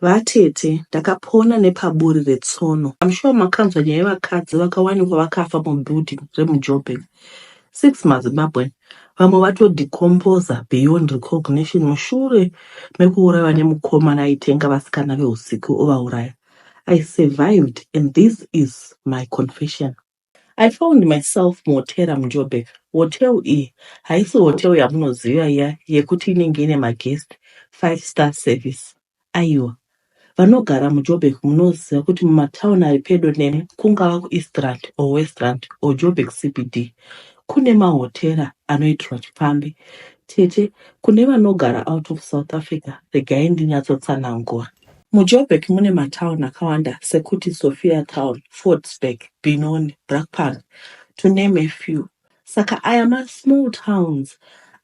Vatete ndakapona nepaburi retsono. I'm sure makanzwa nyaya yevakadzi vakawanikwa vakafa mubuilding remuJoburg. Six maZimbabwean vamwe vatodecomposer beyond recognition mushure mekuurayiwa nemukomana aitenga vasikana vehusiku ovauraya. I survived and this is my confession. I found myself muhotera muJoburg. Hotel iyi haisi hotel yamunoziva iya yekuti inenge ine maguest five star service. Aiwa, vanogara muJoburg munoziva kuti mumatown ari pedo nemi kungava kuEastrand or Westrand or Joburg CBD kune mahotera anoitirwa chipfambi. Tete, kune vanogara out of South Africa regai ndinyatsotsanangura. MuJoburg mune matown akawanda sekuti Sophia Town, Fordsburg, Benoni, Brakpan to name a few. Saka aya masmall towns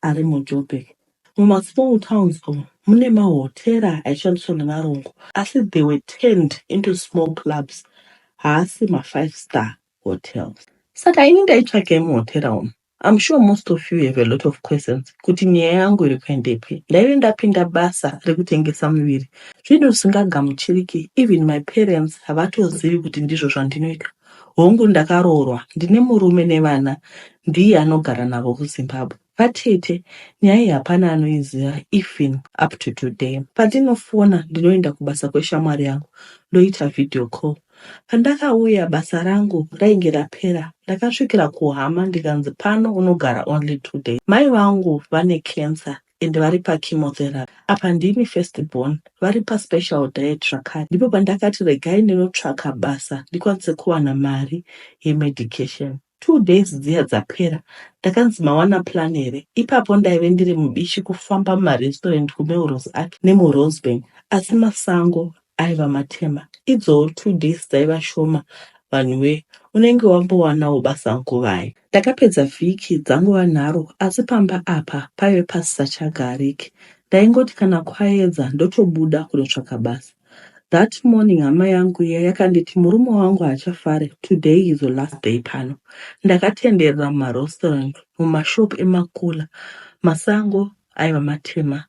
ari muJoburg. Mumasmall towns umu mune mahotera aishandiswa nevarungu asi they were turned into small clubs, haasi mafive star hotels. Saka ini ndaitsvagei muhotera umu? I'm sure most of you have a lot of questions kuti nyaya yangu iri kuendepi. Ndaive ndapinda basa rekutengesa muviri zvinhu zvisingagamuchiriki even my parents havatozivi kuti ndizvo zvandinoita. Hongu ndakaroorwa ndine murume nevana ndiye anogara navo kuZimbabwe. Vatete nyaya iyi hapana anoiziva even up to today. Pandinofona ndinoenda kubasa kweshamwari yangu ndoita video call Pandakauya basa rangu rainge rapera ndakasvikira kuhama ndikanzi pano unogara only two days mai vangu vane cancer and vari pachemotherapy apa ndini first born vari paspecial diet zvakare ndipo pandakati regai ndinotsvaka basa ndikwanise kuwana mari yemedication Two days dziya dzapera ndakanzi mawana plan here ipapo ndaive ndiri mubishi kufamba mumarestaurant kuMelrose Arch nemuRosebank asi masango aiva matema idzowo two days dzaiva shoma vanhuwe unenge wambowanawo basa nguvai. Ndakapedza vhiki dzangova nharo asi pamba apa paive pasisachagariki ndaingoti kana kwaedza ndotobuda kunotsvaka basa That morning hama yangu iya yakanditi murume wangu haachafare today is your last day pano. Ndakatenderera mumarestaurant, mumashop emakula, masango aiva matema.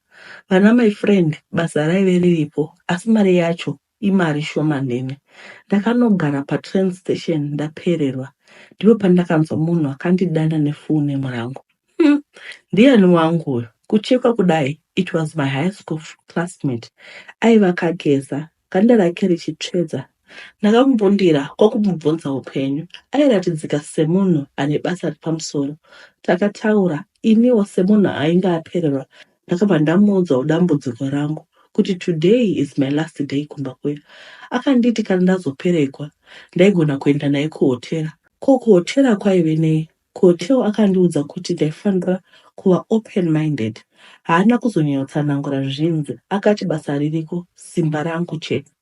Vana my friend basa raive riripo asi mari yacho imari shomanene. Ndakanogara patrain station ndapererwa ndipo pandakanzwa munhu akandidana nefone murangu. Hmm. Ndiani wangu uyu? Kuchekwa kudai, it was my high school classmate. Aiva akageza, ganda rake richitsvedza. Ndakamumbundira kwakumubvunza upenyu. Airatidzika semunhu ane basa repamusoro. Takataura, iniwo semunhu ainge apererwa, ndakabva ndamuudzawo dambudziko rangu kuti today is my last day kumba kuya. Akanditi kana ndazoperekwa, ndaigona kuenda naye kuhotera. Ko kuhotera kwaive nei? Ko Theo akandiudza kuti ndaifanira kuva open minded haana kuzonyanyotsanangura zvinzi akati basa ririko simba rangu chete.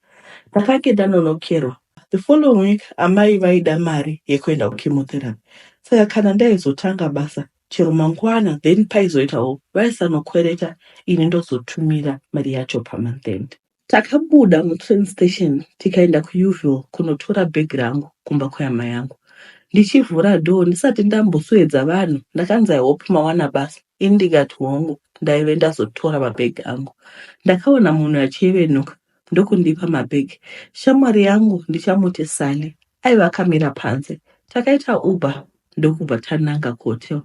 Ndakange ndanonokerwa. The following week amai vaida mari yekuenda kuchemotherapy saka kana ndaizotanga basa chero mangwana then paizoitawo vaisanokwereta ini ndozotumira mari yacho pamonth end. Takabuda mutrain station tikaenda kuUville kunotora bag rangu kumba kwehama yangu. Ndichivhura door ndisati ndambosuedza vanhu ndakanzi I hope mawana basa. Ini ndikati hongu ndaive ndazotora mabag angu. Ndakaona munhu achievenuka ndokundipa mabag. Shamwari yangu ndichamuti Sally. aiva akamira panze takaita uber ndokubva tananga kuhotel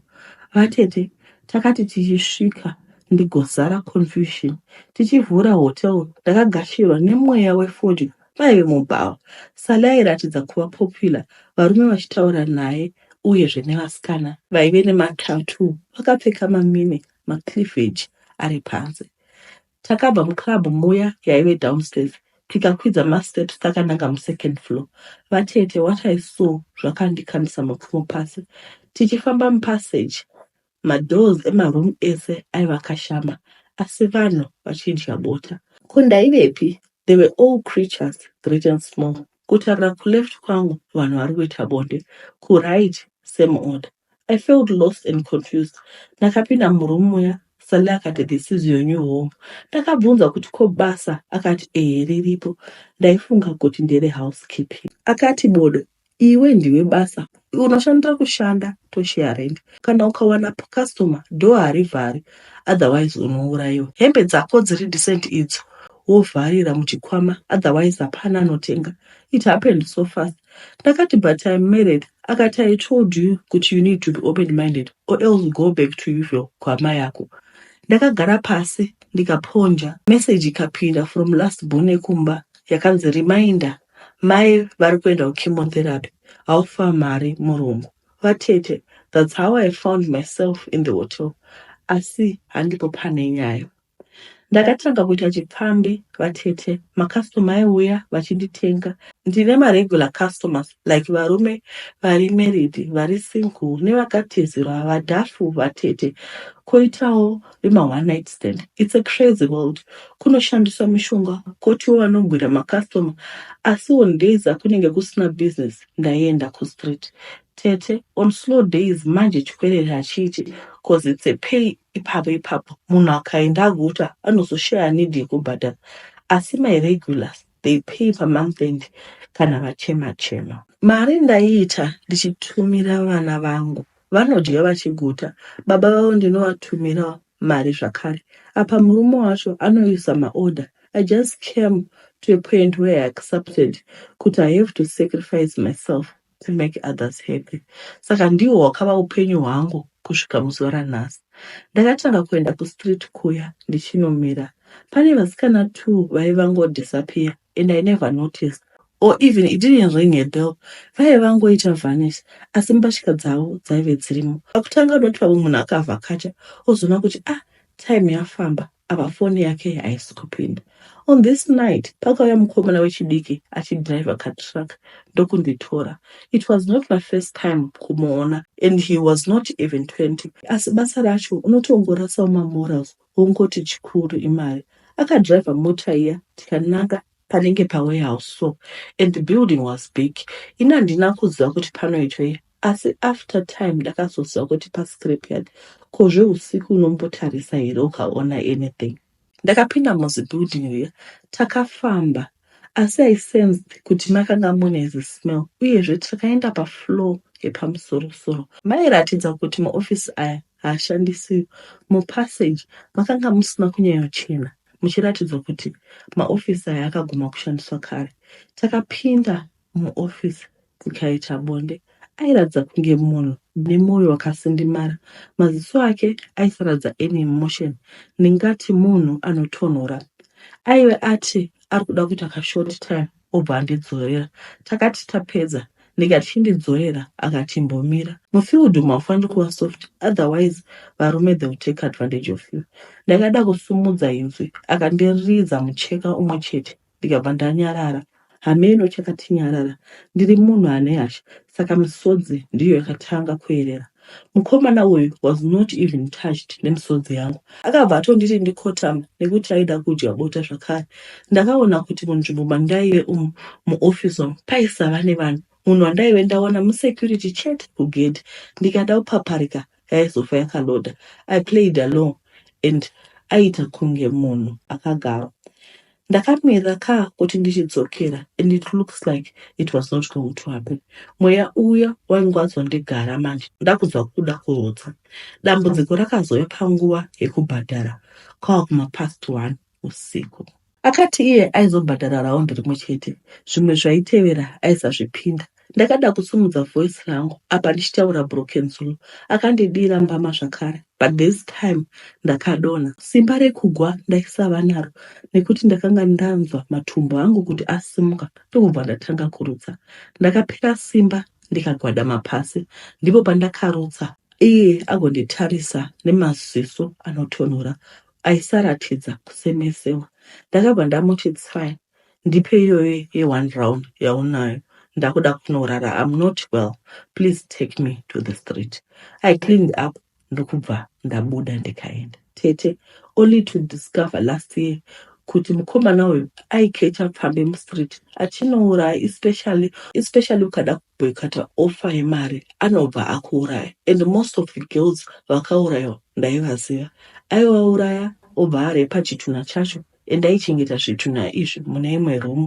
vatete takati tichisvika ndigozara confusion tichivhura hotel ndakagashirwa nemweya wefodya maive mubhawa sale airatidza kuva popular varume vachitaura naye uyezve nevasikana vaive nematatu vakapfeka mamine macleavage ari panze Takabva muclub muya yaive downstairs tikakwidza masteps takananga musecond floor. Vatete, what I saw zvakandikamisa mapfumo pasi. Tichifamba mupassage madoors emaroom ese aiva akashama asi vanhu vachidya bota. Ko ndaivepi? They were all creatures great and small. Kutarira kuleft kwangu vanhu vari kuita bonde, kuright same order. I felt lost and confused. Ndakapinda muroom muya Sally akati this is your new home. Ndakabvunza kuti ko basa akati ehe riripo ndaifunga kuti ndere housekeeping. Akati bodo iwe ndiwe basa unoshandira kushanda toshare rent kana ukawana customer door harivhari otherwise unouraiwa. Hembe dzako dziri decent idzo wovharira muchikwama otherwise hapana anotenga it happened so fast ndakati but im married akati i told you kuti you need to be open minded or else go back to usual kwama yako ndakagara pasi ndikaponja message ikapinda from last bone kumba yakanzi reminder mai vari kuenda kuchemotherapy haufa mari murungu vatete that's how i found myself in the hotel asi handipo pane nyaya Ndakatanga kuita chipfambi vatete macustomer aiuya vachinditenga. Ndine maregular customers like varume vari married, vari single nevakatizirwa vadhafu vatete koitawo vema one night stand. It's a crazy world. Kunoshandiswa mishonga kotiwo vanogwira macustomer asi on days akunenge kusina business ndaienda kustreet. Tete, on slow days manje chikwerere hachiiti cause it's a pay Ipapo ipapo munhu akaenda aguta anozoshaya need yekubhadhara asi my regulars they pay pamonth end kana vachema chema. Mari ndaiita ndichitumira vana vangu vanodya vachiguta baba vavo ndinovatumira mari zvakare apa murume wacho anoisa maorder I just came to a point where I accepted kuti I have to sacrifice myself to make others happy saka ndiwo hwakava upenyu hwangu kusvika muzuva ranhasi. Ndakatanga kuenda kustreet kuya ndichinomira pane vasikana two vaive vango disappear and I never noticed or even it didn't ring a bell vaive vangoita vanish asi mbatya dzavo dzaive dzirimo. Pakutanga unoti pamwe munhu akavhakacha ozoona kuti ah time yafamba apa foni yake haisi kupinda. On this night pakauya mukomana wechidiki achidriver katruck ndokunditora. It was not my first time kumuona and he was not even 20 asi basa racho unotongorasawo mamorals wongoti chikuru imari. Akadriver mota iya tikananga panenge pa warehouse so and the building was big ini handina kuziva kuti panoitwei asi after time ndakazoziva kuti pa scrap yard ko zveusiku unombotarisa here ukaona anything ndakapinda muzi building riya takafamba asi i sensed kuti makanga mune zismell uyezve takaenda pafloor yepamusorosoro mairatidza kuti maofisi aya haashandisiwi mupassage makanga musina kunyanyochena muchiratidzwa kuti maofisi aya akaguma kushandiswa kare. Takapinda muofisi tikaita bonde. Airatidza kunge munhu nemwoyo wakasindimara. Maziso ake aisaratidza any emotion, ndingati munhu anotonhora. Aive ati ari kuda kuita kashort time obva andidzorera. Takati tapedza ndikati chindidzorera akati imbomira. Mufield umu haufaniri kuva soft otherwise varume they will take advantage of you. Ndakada kusumudza inzwi akandiridza mucheka umwe chete ndikabva ndanyarara. Hameno chakatinyarara ndiri munhu ane hasha saka misodzi ndiyo yakatanga kuerera. Mukomana uyu was not even touched nemisodzi yangu. Akabva atonditi ndikotama nekuti aida kudya bota zvakare. Ndakaona kuti munzvimbo mandaive umu muoffice umu paisava nevanhu. Munhu wandaive ndaona musecurity chete kugedhi. Ndikada kupaparika yaizofa yakaloda. I played along and aita kunge munhu akagarwa. Ndakamirira kaa kuti ndichidzokera and it looks like it was not going to happen. Mweya uya wange wazondigara manje ndakudzwa kuda kurotsa. Dambudziko rakazouya panguva yekubhadhara kwava kuma past one usiku. Akati iye aizobhadhara round rimwe chete, zvimwe zvaitevera aisazvipinda Ndakada kusimudza voice rangu apa ndichitaura broken Zulu. Akandidira mbama zvakare but this time ndakadonha. Simba rekugwa ndaisava naro nekuti ndakanga ndanzwa matumbu angu kuti asimuka ndokubva ndatanga kurutsa. Ndakapera simba ndikagwadama pasi ndipo pandakarutsa iye agonditarisa nemaziso anotonhora aisaratidza kusemesewa. Ndakabva ndamuti tsai Ndipe iyoyo ye one round yaunayo ndakuda kunorara I'm not well please take me to the street. I cleaned up ndokubva ndabuda ndikaenda. Tete only to discover last year kuti mukomana uyu aikecha pfambi mustreet achinouraya especially especially ukada kuboykata offer yemari anobva akuuraya and most of the girls vakaurayiwa ndaivaziva aivauraya obva arepa chitunha chacho Endaichengeta zvitunha izvi mune imwe room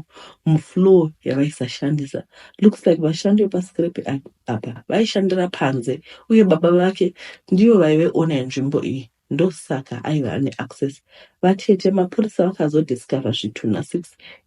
mufloor yavaisashandisa. Looks like vashandi vepascrap apa vaishandira panze uye baba vake ndivo vaive owner yenzvimbo iyi ndosaka aiva ane access. Vatete mapurisa vakazodiscover zvitunha six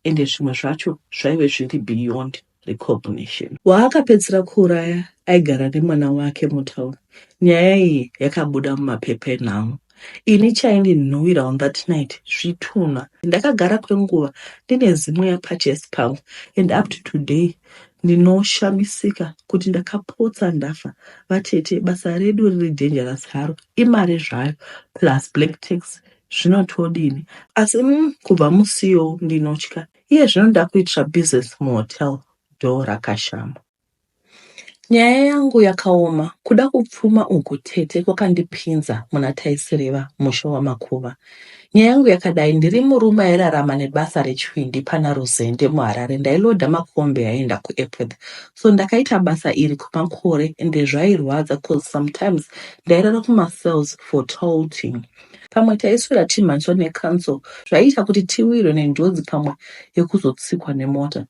ende zvimwe zvacho zvaive zviri beyond. recognition. Waakapedzisira kuuraya aigara nemwana wake mutown. Nyaya iyi yakabuda mumapepa enhau. Ini chaindinhuwira on that night zvitunha. Ndakagara kwenguva ndine zimwe yapachest pangu and up to today ndinoshamisika kuti ndakapotsa ndafa. Vatete, basa redu riri dangerous haro, imari zvayo plus black tax zvinotodini asi mm, kubva musiyo ndinotya Iye zvino ndakuitira business muhotel door rakashama. Nyaya yangu yakaoma kuda kupfuma uku tete kwakandipinza muna taisireva musha wamakuva. Nyaya yangu yakadai ndiri murume airarama nebasa rechwindi pana Ruzende muHarare ndailoda makombi aienda kuEpworth. So ndakaita basa iri kwemakore ende zvairwadza cause sometimes ndairara kumacells for tolting. Pamwe taiswera timhanzwa necanso zvaiita kuti tiwirwe nenjodzi pamwe yekuzotsikwa nemota.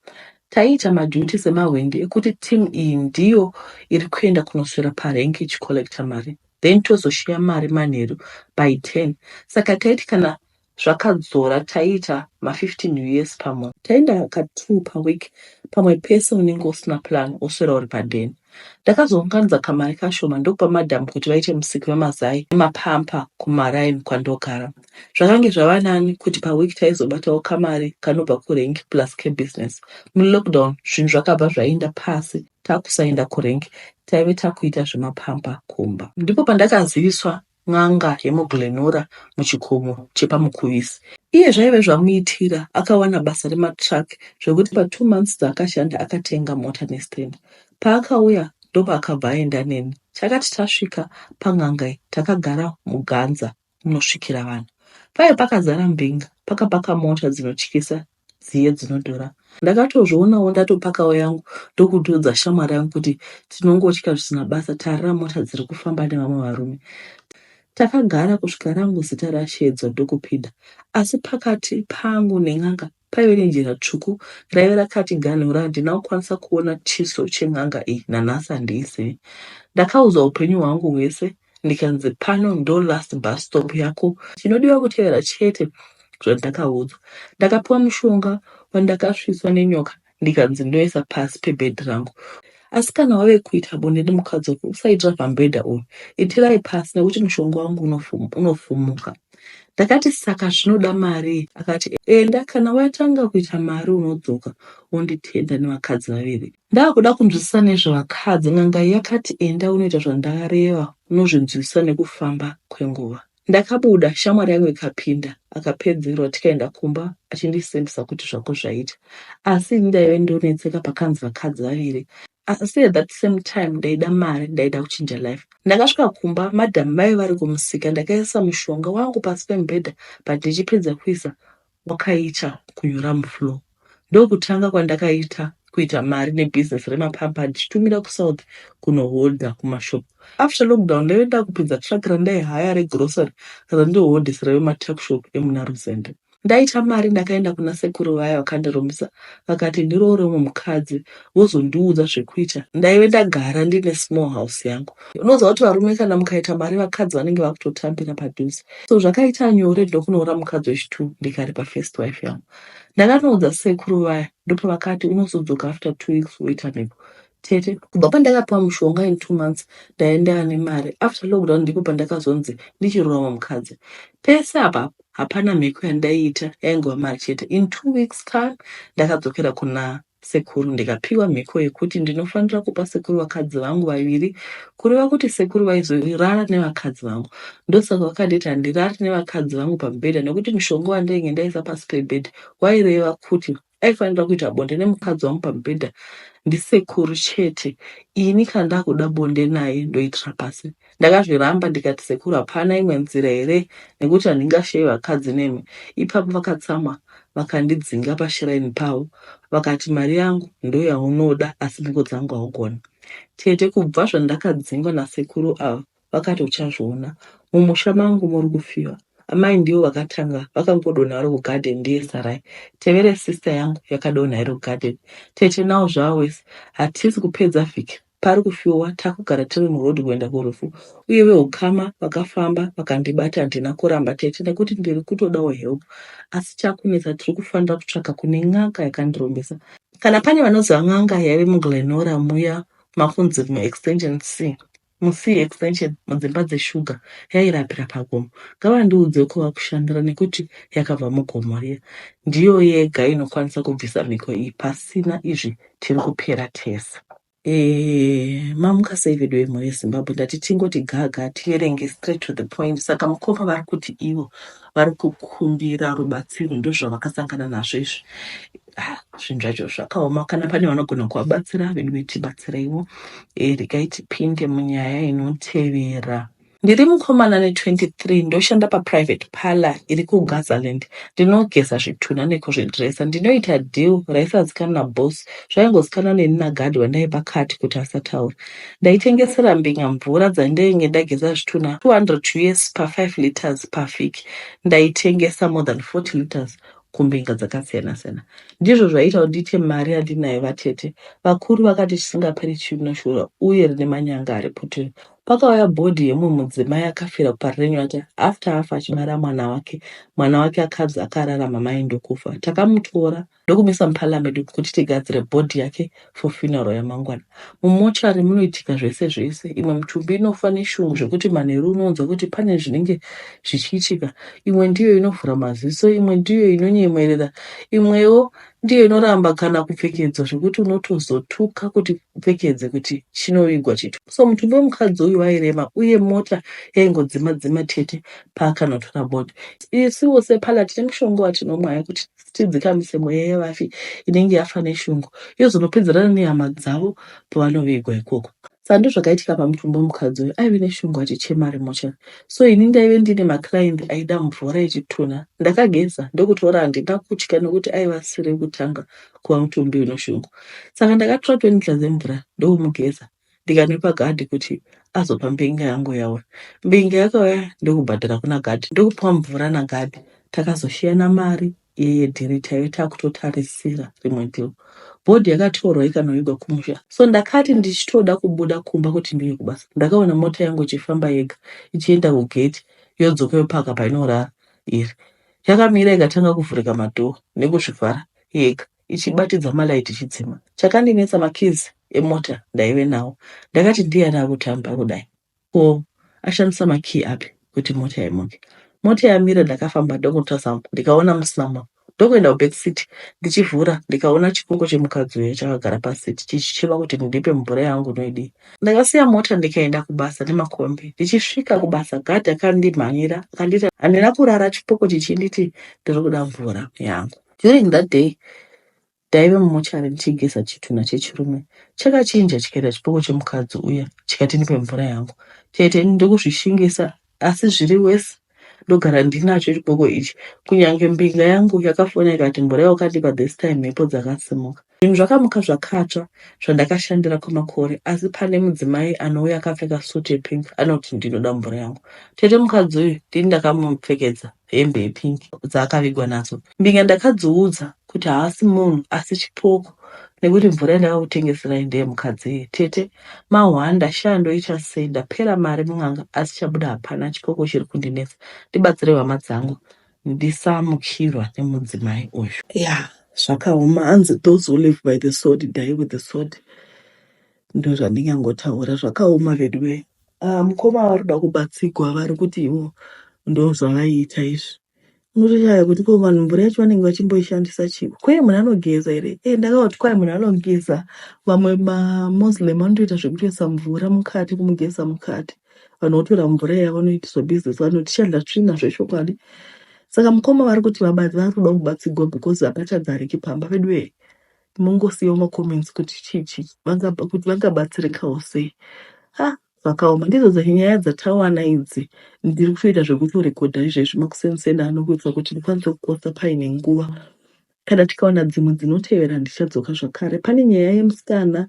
Taiita maduty semahwindi ekuti team iyi ndiyo iri kuenda kunoswera parank ichicollecta mari then tozoshiya mari manheru by 10 saka taiti kana zvakadzora taiita ma 15 us pamunhu. Taienda ka two paweek pamwe pese unenge usina plan woswera uri paden. Ndakazounganidza kamari kashoma ndokupa madam kuti vaite musiki wemazai nemapamper kumaraini kwandogara. Zvakange zvava nani kuti paweek taizobatawo kamari kanobva kurenk plus kebusiness. Mulockdown zvinhu zvakabva zvaenda pasi takusaenda kurenk taive takuita zvemapamper kumba. Ndipo pandakaziviswa n'anga yemuGlenora muchikomo chepaMukuvisi. Iye zvaive zvamuitira akawana basa rematruck zvekuti patwo months dzaakashanda akatenga mota nestand. Paakauya ndopaakabva aenda neni. Takati tasvika pan'anga iyi takagara muganza munosvikira vanhu. Paive pakazara mbinga pakapaka mota dzinotyisa dziye dzinodhura ndakatozvionawo ndatopakawo yangu ndokutoudza shamwari yangu kuti tinongotya zvisina basa tarira mota dziri kufamba nevamwe varume Takagara kusvika rangu zita rasheedzwa ndokupinda, asi pakati pangu nen'anga paive nejira tsvuku raive rakatiganhura. Handina kukwanisa kuona chiso chen'anga iyi, nanhasi handiizivi. Ndakaudzwa upenyu hwangu hwese ndikanzi pano ndo last bus stop yako chinodiwa kutevera chete zvandakaudzwa ndakapiwa mushonga wandakasvitswa nenyoka ndikanzi ndoisa pasi pebhedhi rangu asi kana wave kuita bonde nemukadzi wako usaitira pambhedha uyu itirai pasi nekuti mushonga wangu unofum- unofumuka ndakati saka zvinoda mari akati enda kana watanga kuita mari unodzoka wonditenda nevakadzi vaviri Ndakuda kunzwisisa nezvevakadzi n'anga yakati enda unoita zvandareva unozvinzwisisa nekufamba kwenguva. Ndakabuda shamwari yangu ikapinda akapedzerwa tikaenda kumba achindisembisa kuti zvako zvaita asi ini ndaive ndonetseka pakanzi vakadzi vaviri asi at that same time ndaida mari ndaida kuchinja life. Ndakasvika kumba madam vaive vari kumusika ndakaisa mushonga wangu pasi pemubhedha but ndichipedza kuisa wakaita kunyura mufloor ndokutanga kwandakaita kuita mari nebusiness remapamper ndichitumira kusouth kunoholder kumashop after lockdown ndaive ndakupinza truck randaihaya regrocery randinoholdesera vematuckshop emuna ruzende ndaita mari ndakaenda kuna sekuru vaya vakandirumbisa vakati ndiroore umwe mukadzi wozondiudza zvekuita ndaive ndagara ndine small house yangu unoziva kuti varume kana mukaita mari vakadzi vanenge vakutotambira padhuze so zvakaita nyore ndokunoora mukadzi wechitwo ndikari pafirst wife yangu ndakanoudza sekuru vaya ndopavakati unozodzoka after two weeks woita mhiko tete kubva pandakapiwa mushonga in two months ndaenda ane mari after lockdown ndipo pandakazonzi ndichirurama mukadzi pese apapo hapana mhiko yandaiita yaingova mari chete in two weeks time ndakadzokera kuna Sekuru ndikapiwa mhiko yekuti ndinofanira kupa sekuru vakadzi vangu vaviri kureva kuti sekuru vaizorara nevakadzi vangu ndosaka vakanditi handirari nevakadzi vangu pamubhedha nekuti mushonga wandainge ndaisa pasi pebhedha waireva kuti aifanira kuita bonde nemukadzi wangu pamubhedha ndisekuru chete ini kandakuda bonde naye ndoitira pasi Ndakazviramba ndikati sekuru hapana imwe nzira here nekuti handingashaye vakadzi nemi. Ipapo vakatsamwa vakandidzinga pashiraini pavo vakati mari yangu ndoyaunoda asi mhiko dzangu haugoni. Tete kubva zvandakadzingwa nasekuru ava vakati uchazviona. Mumusha mangu muri kufiwa. Amai ndivo vakatanga vakangodonha vari kugarden ndiye sarai tevere sister yangu yakadonha iri kugarden. Tete now zvava worse hatisi kupedza vhiki Pari kufiwa takugara tiri muroad kuenda kurufu uye vehukama vakafamba vakandibata handina kuramba tete nekuti ndiri kutodawo help asi chakunetsa tiri kufanira kutsvaga kune n'anga yakandirombesa. Kana pane vanoziva n'anga yaive muGlenora muya makunzi muExtension C mu C extension mudzimba dzeshuga yairapira pagomo ngavandiudze kwavakushandira nekuti yakabva mugomo riya ndiyo yega inokwanisa kubvisa mhiko iyi pasina izvi tiri kupera tese. Eh, mamuka sei veduwe mhuri yezimbabwe ndati tingoti gaga tierenge straight to the point saka mukoma vari kuti ivo vari kukumbira rubatsiro ndozvavakasangana nazvo izvi Ah, zvinhu zvacho zvakaoma kana pane vanogona kuvabatsira veduwe tibatsireiwo Eh, regai tipinde munyaya inotevera Ndiri mukomana ane 23 ndoshanda paprivate parlour iri kuGazaland. Ndinogeza zvitunha nekuzvidresa. Ndinoita deal raisazikanwa naboss, zvaingozikanwa neni naguard wandaipa card kuti asataura. Ndaitengesera mbinga mvura dzandainge ndageza zvitunha 200 us pa 5 litres pavhiki. Ndaitengesa more than 40 litres kumbinga dzakasiyana siyana. Ndizvo zvaiita kuti ndiite mari yandinayo vatete. Vakuru vakati chisingaperi chinoshura uye rine manyanga ari puturu. Pakauya body yemumwe mudzimai akafira paRenyota after afa achibara mwana wake, mwana wake akabzi akarara mamai ndokufa. Takamutora ndokumisa muparliament kuti tigadzire body yake for funeral yamangwana. Mumochari munoitika zvese zvese, imwe mutumbi inofa neshungu zvekuti manheru unonzwa kuti pane zvinenge zvichiitika, imwe ndiyo inovhura maziso, imwe ndiyo inonyemwerera, imwewo ndiyo inoramba kana kupfekedzwa zvekuti unotozotuka kuti upfekedze kuti chinovigwa chito so mutumbi wemukadzi uyu wairema uye mota yaingodzima dzima tete paakanotora body isiwo sepala tine mushonga watinomwa yekuti tidzikamise mweya yevafi inenge yafa neshungu yozonopedzerana nehama dzavo pavanovigwa ikoko Saka ndozvakaitika pamutumbi wemukadzi uyu aive neshungu achichema ari mochari. So ini ndaive ndine maclient aida mvura yechitunha. Ndakageza ndokutora handina kutya nokuti aive asiri kutanga kuva mutumbi unoshungu. Saka ndakatora 20 liters dzemvura ndokumugeza ndikanwepa gadhi kuti azopa mbinga yangu yauya. Mbinga yakauya ndokubhadhara kuna gadhi ndokupiwa mvura nagadhi. Takazoshiyana mari yeye dhiri chaiyo takutotarisira rimwe deal bhodhi yakatorwa ikanovigwa kumusha so ndakati ndichitoda kubuda kumba kuti ndiuye kubasa ndakaona mota yangu ichifamba yega ichienda kugate yodzoka yopaka painorara iri yakamira ikatanga kuvhurika madhoo nekuzvivhara yega ichibatidza malaiti ichidzima chakandinetsa makizi emota ndaive nawo ndakati ndiye ari akutamba kudai Ko ashandisa ma key api kuti mota imuke. Mota yamira ndakafamba ndokunotarisa ndikaona musina munhu ndokuenda ku back seat ndichivhura ndikaona chikungo chemukadzi uya chakagara pa seat chichichema kuti mundipe mvura yangu noidii. Ndakasiya mota ndikaenda kubasa nemakombi ndichisvika kubasa guard akandimhanyira akanditi handina kurara chipoko chichinditi ndiri kuda mvura yangu. During that day Ndaive mumochari ndichigeza chitunha chechirume chakachinja chikaita chipoko chemukadzi uya chikati ndipe mvura yangu. Tete ini ndokuzvishingisa asi zviri worse ndogara ndinacho chipoko ichi. Kunyange mbinga yangu yakafona ikati mvura yaukandipa this time mhepo dzakasimuka. Zvinhu zvakamuka zvakatsva zvandakashandira kwemakore asi pane mudzimai anouya akapfeka suit yepink anoti ndinoda mvura yangu. Tete mukadzi uyu ndini ndakamupfekedza. hembe yepink dzaakavigwa nadzo. Mbinga ndakadziudza kuti haasi munhu asi chipoko nekuti mvura yandakakutengeserai ndeye mukadzi iye. Tete, mahwanda, shaa ndoita sei ndapera mari mun'anga asi chabuda hapana chipoko chiri kundinetsa. Ndibatsireiwo hama dzangu ndisamukirwa nemudzimai uyu. Yeah zvakaoma hanzi those who live by the sword die with the sword ndozvandingangotaura zvakaoma veduwee. Ah, mukoma vari kuda kubatsigwa vari kuti ivo ndozvavaiita izvi unotoshaya kuti ko vanhu mvura yacho vanenge vachimboishandisa chivo kwee munhu anogeza here e ndakavati kwai munhu anogeza vamwe mamoslem vanotoita zvekutoisa mvura mukati kumugeza mukati vanhu votora mvura iya vanoita zvebhizinesi vanhu tichadya tsvina zvechokwadi saka mukoma vari kuti vabati vari kuda kubatsigwa because hapachadzariki pamba veduwee Mongosiyawo macomments kuti chii chii vanga- kuti vangabatsirikawo sei. Ah, zvakaoma ndidzo dza- nyaya dzatawana idzi. Ndiri kutoita zvekutorekodha izvezvi makusenseni ano kuitira kuti ndikwanise kuposta paine nguva. Kana tikawana dzimwe dzinotevera ndichadzoka zvakare. Pane nyaya yemusikana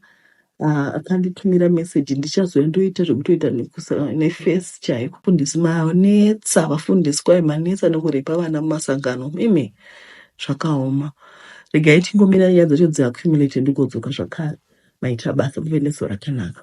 Ah, akanditumira message ndichazouya ndoita zvekutoita nekusa- nefesi chaiyo kufundisi manetsa vafundisi kwayo manetsa nekurepa vana mumasangano imi zvakaoma regai tingomira nyaya dzacho dziaccumulate ndigodzoka zvakare maita basa muve neso rakanaka